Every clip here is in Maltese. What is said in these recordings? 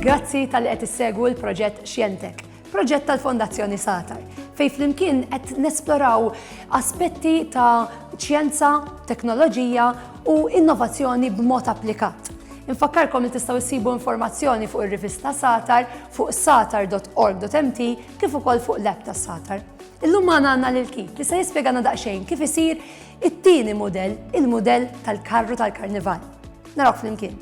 Grazzi tal-li qed issegwu l-proġett Xjentek, proġett tal-Fondazzjoni Satar, fej flimkien qed nesploraw aspetti ta' ċjenza, teknoloġija u innovazzjoni b'mod applikat. Infakkarkom li tistgħu issibu informazzjoni fuq ir-rivista Satar fuq satar.org.mt kif ukoll fuq l-app tas-Satar. Illum ma għandna lil Keith li se jispjegana daqsxejn kif isir it-tieni mudell, il-mudell tal-karru tal-karnival. Naraw flimkien.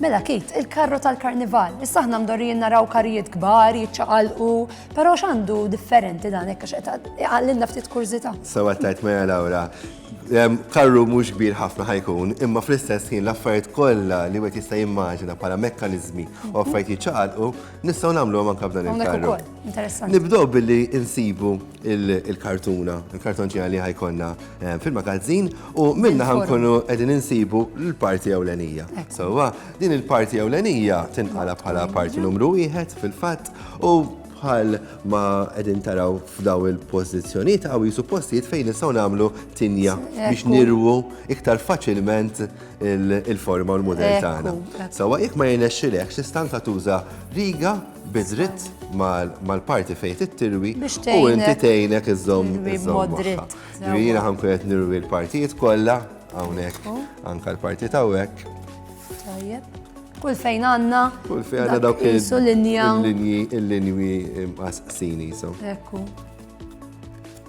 Mela Keith, il-karru tal-karnival, issa aħna mdorrijin naraw karijiet kbar, jiċċaqalqu, però x'għandu differenti dan hekk għax qed iqallilna ftit kurżità. Sewa tajt Maja Laura, karru mhux kbir ħafna ħajkun, imma fl-istess ħin l-affarijiet kollha li wieħed jista' jimmaġina bħala mekkaniżmi u affarijiet jiċċaqalqu Nistgħu nagħmluhom anke f'dan il-karru. Interessanti. Nibdew billi insibu il-kartuna, il-kartonċina li ħajkonna eh, fil-magazzin u minna ħankunu qegħdin insibu l-parti ewlenija. Sewwa, din il-parti ewlenija tinqala bħala parti numru wieħed fil-fatt u bħal ma qegħdin taraw f'daw il-pożizzjonijiet għaw jisupostijiet fejn nistgħu nagħmlu tinja biex nirwu iktar faċilment il-forma u l-mudell tagħna. Sawa jekk ma jirnexxilek xi stanza tuża riga biżritt mal-parti fejn tittirwi u inti tgħinek iżżomm iżżomm. Jiena ħankun qed nirwi l-partijiet kollha hawnhekk anke l-partit hawnhekk. Tajjeb. Kull fejn għanna. Kull fejn għanna dawk il-linji. Il-linji, il-linji imqasqsini, so. Ekku.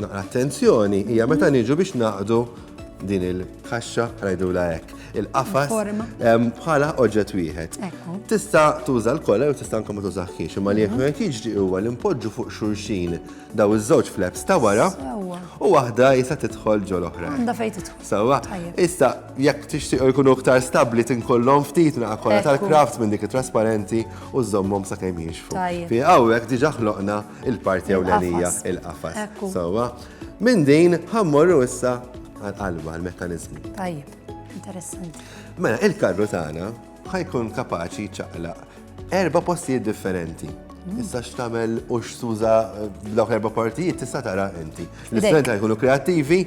Naqra attenzjoni hija meta niġu biex naqdu din il-kaxxa ngħidulha hekk, il-qafas bħala oġġett wieħed. Tista' tuża l-kola jew tista' anke ma tużaħħiex, imma li jekk qed jiġri huwa li npoġġu fuq xulxin daw iż-żewġ flaps ta' wara u waħda jisa tidħol ġol oħra. Għandha fejn tidħol. Sewwa, issa jekk tixtieq jkunu iktar stabbli tinkollhom ftit naqa' kola tal-kraft minn dik trasparenti u żommhom sakemm jixfu. Fi hawnhekk diġà ħloqna Il-parti ewlenija, il-qafas. Sewwa. Minn din ħammorru issa għal-qalba, għal-mekkaniżmu. Tajjeb, interessanti. Mela, il-karru tagħna ħajkun kapaċi ċaqlaq erba' postijiet differenti. Mm. Issa x'tamel u x'tuża eh, dawk erba' partijiet tista' tara inti. L-istudenti jkunu kreattivi,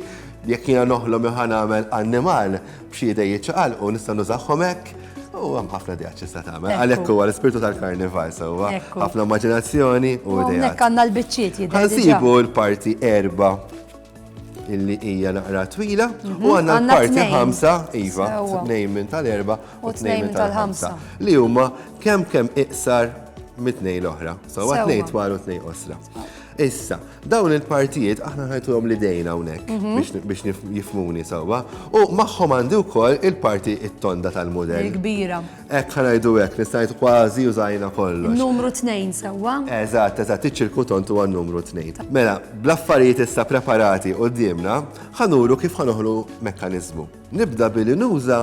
jekk jiena noħlom jew ħanamel annimal, B'xi idej jiċċaqalqu nista' nużahom hekk, u hemm ħafna idejat x'tista' tagħmel. Għalhekk huwa l-ispirtu tal-karnival sewwa, ħafna immaġinazzjoni u idejat. Hawnhekk għandna l-biċċiet jidher. Ħansibu l-parti erba' illi hija naqra twila u għandna l-parti ħamsa, iva, tnejn minn tal-erba' u tnejn minn tal-ħamsa, li huma kemm kemm iqsar mit-tnejn l-oħra. Sewwa tnejn twal u tnejn qosra. Issa, dawn il-partijiet aħna ħajtuhom li dejna hawnhekk mhm. biex jifmuni sewwa u magħhom għandi wkoll il-parti it-tonda tal-mudell. Il-kbira. Hekk ħanajdu hekk, nistajt kważi użajna kollox. Numru tnejn sewwa. Eżatt, eżatt, iċ-ċirku tont huwa numru tnejn. Mela, bl-affarijiet issa preparati qudiemna, ħanuru kif ħanoħlu mekkaniżmu. Nibda billi nuża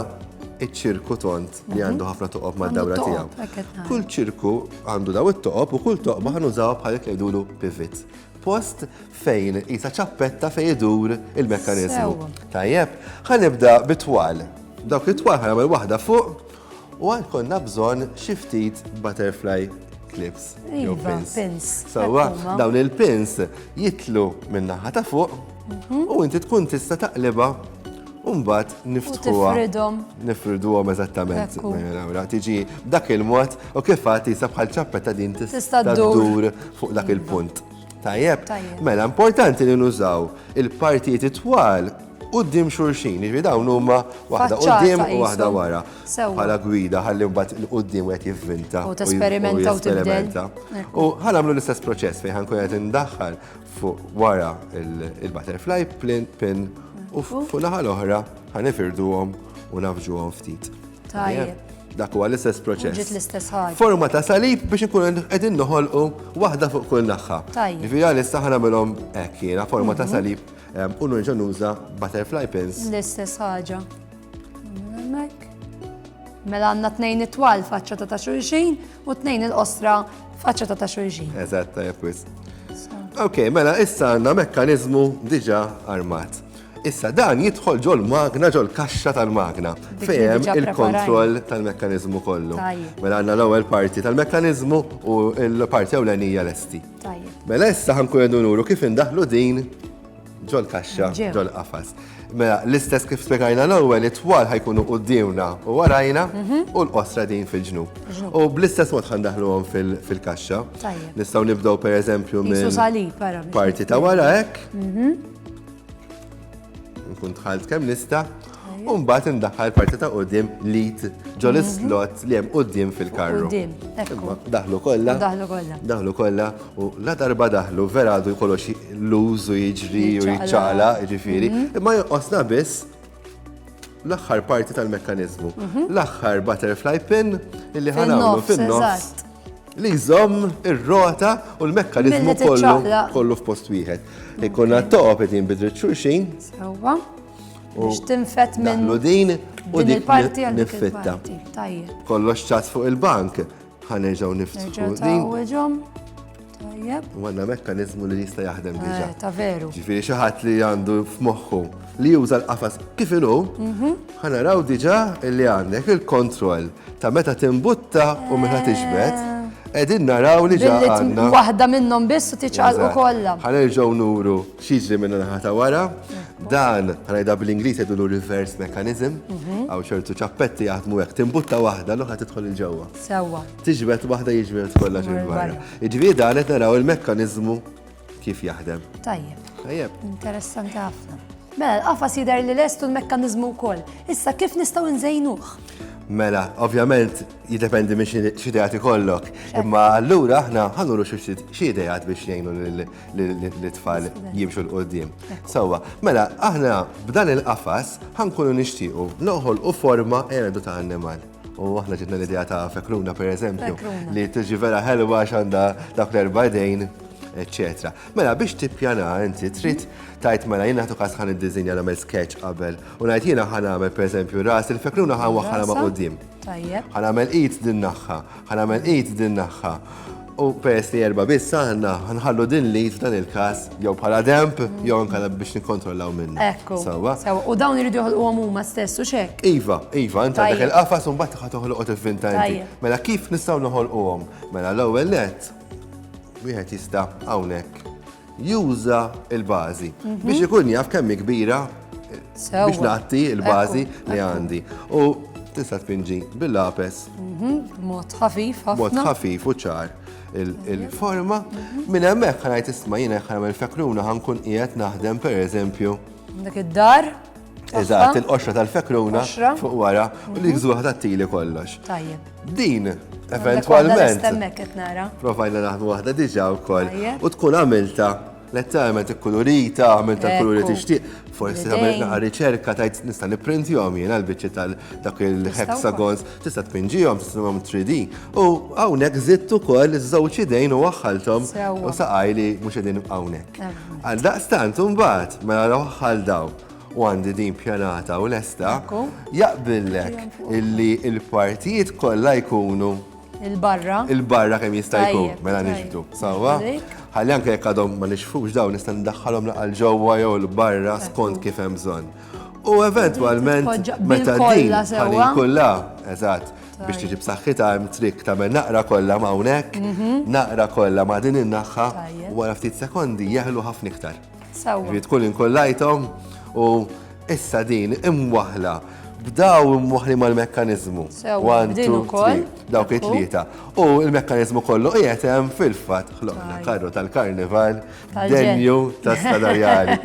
iċ-ċirku tont li għandu mhm. ħafna toqob ma' dawra tiegħu. Kull ċirku għandu daw it-toqob u kull toqba ħanużaw bħal jekk jgħidulu pivot. Post fejn jisa ċappetta fejn idur il-mekkaniżmu. Tajjeb, ħanibda bit-twal. Dawk it-twal ħanagħmel waħda fuq U għad konna bżonn xi ftit butterfly clips jew Iva, pins. pins. Sewwa Hekk huma. dawn il-pins jitlu min-naħa ta' fuq Mhm. u inti tkun tista' taqlibha u mbagħad niftħuha. tifridhom. Nifriduhom eżattament. Hekk hu. Mela, nara, Tiġi dak il-mod u kif għad tisa bħal ċappetta din tis- Tista' ddur. dur fuq dak il-punt. Tajjeb, mela importanti li nużaw il-partijiet it-twal qudiem xulxin, jiġri dawn huma waħda qudiem u waħda wara. Bħala gwida ħalli mbagħad il-qudiem qed jivvinta. U tesperimenta u tesperimenta. U ħal għamlu l-istess proċess fejn ħankun qed indaħħal fuq wara il-butterfly pin u fuq naħa l-oħra ħanifirduhom u nafġuhom ftit. Tajjeb. Dak huwa l-istess proċess. Ġiet l-istess ħaġa. Forma ta' salib biex ikun qegħdin noħolqu waħda fuq kull naħħa. Tajjeb. Ġifieri għalissa ħa nagħmilhom hekk jiena forma ta' mhm. salib ehm, u nerġa' nuża butterfly pins. L-istess ħaġa. Mela għandna tnejn it-twal faċċa ta' ta' xulxin u tnejn il-qosra faċċa ta' ta' xulxin. Eżatt, tajjeb Ok, mela issa għandna mekkaniżmu diġà armat. Issa dan jidħol ġol-magna, ġol-kaxxa tal-magna, fejn hemm il-kontroll tal-mekkaniżmu kollu. Mela għandna l-ewwel parti tal-mekkaniżmu u l-parti ewlenija lesti. Mela issa ħankun qegħdu nuru kif indaħlu din ġol-kaxxa, ġol-qafas. Mela l-istess kif spjegajna l-ewwel it-twal ħajkunu quddiemna u warajna mhm. u l-qosra din fil-ġnub. U bl-istess mod ħandaħluhom fil-kaxxa. Nistgħu nibdew pereżempju minn parti ta' wara hekk. Mhm. Nkun dħalt kemm nista' u mbagħad indaħħal parti ta' qudiem lit ġol mhm. slot li hemm qudiem fil-karru. Daħlu kollha. Daħlu kollha. Daħlu kollha u la darba daħlu vera għadu jkollox l-użu jiġri u jiċċala, jiġifieri, mhm. imma jonqosna biss l-aħħar parti tal-mekkanizmu. Mhm. L-aħħar butterfly pin illi ħanamlu fin-nofs li jżomm ir-rota u l-mekkanizmu kollu kollu f'post wieħed. Ikonna toqob qed jinbidru xulxin. Sewwa. Biex tinfet minn din u din il-parti għal fitta Kollox ċas fuq il-bank. Ħanerġaw niftħu. Ġawġom. Tajjeb. U għanna mekkanizmu li jista' jaħdem eh, diġa. Ta' veru. Ġifieri xi ħadd li għandu f'moħħu li juża l-qafas kif inhu, mhm. ħanaraw diġa li għandek il-kontroll ta' meta timbutta u meta eh. tiġbed. Edin naraw li ġa għanna. Waħda minnhom biss u tiċċaqalqu kollha. Ħanerġgħu nuru Xiġri minna naħa ta' wara, dan għanajda bl-Inglis jgħidulu reverse mechanism, mhm. għaw xortu ċappetti jaħdmu għek, timbutta wahda l-oħra tidħol il-ġewwa. Sewa. Tiġbet wahda jiġbet kollha ġil-barra. Iġviri dan qed naraw il-mekkanizmu kif jaħdem. Tajjeb. Tajjeb. Interessanti ħafna. Mela, l-qafas jidher li lestu l-mekkanizmu wkoll. Issa kif nistgħu nżejnuh? Mela, ovvjament jiddependi minn xi ideati kollok. Imma allura aħna ħanuru xi ideat biex jgħinu li tfal jimxu l-qoddim. Sawa, mela, aħna b'dan il-qafas ħankunu nixtiequ noħol u forma erdu ta' annimal. U aħna ġitna l-idea ta' fekruna, per eżempju, li tiġi vera ħelwa xanda dak l-erba' dejn etc. Mela biex tippjana inti trid tajt mela jiena ħatu kas ħan id-dizinja nagħmel sketch qabel u ngħid jiena ħan nagħmel pereżempju ras il-fekruna ħan waħħala ma' qudiem. Ħan nagħmel id din naħħa Ħanamel id din naħħa. U peress li erba biss aħna, ħanħallu din li f'dan il-kas, jew bħala demp, jew ankala biex nikkontrollaw minna. Ekku. Sawa. Sawa. U dawn iridu joħolqu għom huma stess u xek. Iva, iva, inta dak il-qafas un bat ħat toħolqu tiffinta inti. Mela kif nistgħu noħolqu għom? Mela l-ewwel net, wieħed jista' hawnhekk juża il-bażi biex ikun jaf kemm kbira biex nagħti il-bażi li għandi. U tista' tpinġi bil-lapes. Mhm, mod ħafif, ħafna. Mod ħafif u ċar il-forma. Mhm. Minn hemmhekk ħanajt isma' jiena ħanagħmel fekruna ħankun qiegħed naħdem pereżempju. Dak id-dar? Eżatt, il-qoxra tal-fekruna fuq wara u li mhm. gżuħ tat-tili kollox. Tajjeb. Din, eventualment. Provajna naħdu waħda diġa u koll. U tkun għamilta letteralment ikkulurita, għamil ta' kuluri tixtieq, forsi għamil naqa riċerka tajt nista' nipprintihom jiena l-biċċi tal dak il-hexagons Tista' tpinġihom, tistrumhom 3D u hawnhekk żidt ukoll iż-żewġ idejn u waħħalthom u saqaj li mhux qegħdin hawnhekk. Għal daqstant imbagħad mela waħħal daw u għandi din pjanata u lesta jaqbillek illi l-partijiet kollha jkunu Il-barra. Il-barra kemm jista' jkun, mela nixbdu. Sawa? Ħalli anke jekk għadhom ma nixfux dawn nista' ndaħħalhom laqal ġewwa jew l-barra skont kif hemm bżonn. U eventualment meta din ħalli kollha, eżatt, biex tiġi b'saħħitha hemm trik tagħmel naqra kollha ma' hawnhekk, mhm. naqra kollha ma' din in-naħħa u wara ftit sekondi jeħlu ħafna iktar. Ġifieri tkun inkollajthom u issa din imwaħla b'daw imwaħli mal-mekkaniżmu. One, two, three, dawk it-tlieta. U l-mekkaniżmu kollu qiegħed hemm fil-fatt ħloqna karru tal-karnival denju ta' stadarjali.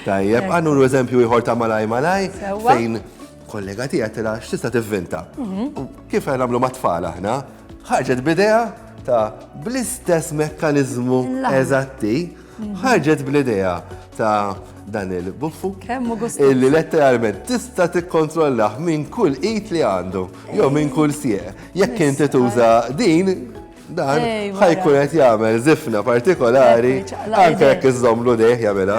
Tajjeb, għannu l-eżempju iħor ta' malaj malaj, fejn kollega tija tira x'tista' tivvinta. Mhm. Kif għamlu ma' tfal aħna, ħarġet bidea ta' bl-istess mekkanizmu eżatti, mhm. ħarġet bl-idea ta' dan il-buffu. Kemmu gustu. Illi letteralment tista tikkontrollaħ minn kull it li għandu, jew minn kull sieq. Jekk inti tuża din, Dan ħaj jkun qed jagħmel zifna partikolari anke jekk iżżomlu dejh jagħmilha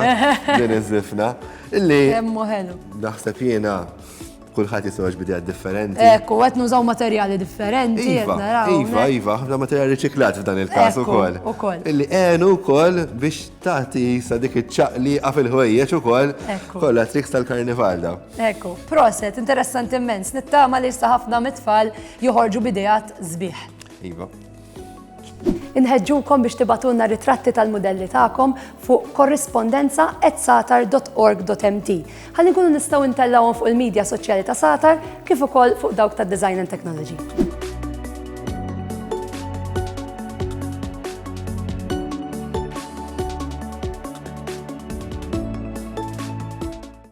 din iż-żifna illi naħseb jiena kulħadd jisweġ bidejat differenti. Ekku, qed nużaw materjali differenti. Iva, iva, iva, ħafna materjali riċiklat f'dan il-każ ukoll. Ukoll. Illi għenu wkoll biex tagħti sa dik iċ-ċaqliqa fil-ħwejjeġ ukoll kollha triks tal-karnival da. Ekku, proset, interessanti immens, nittama li issa ħafna mit-tfal joħorġu bidejat sbieħ. Iva. Inħeġġukom biex tibatulna ritratti tal-modelli tagħkom fuq korrispondenza at satar.org.mt. Ħalli nkunu nistgħu ntellawhom fuq il-medja soċjali ta' Satar kif ukoll fuq dawk ta' Design and Technology.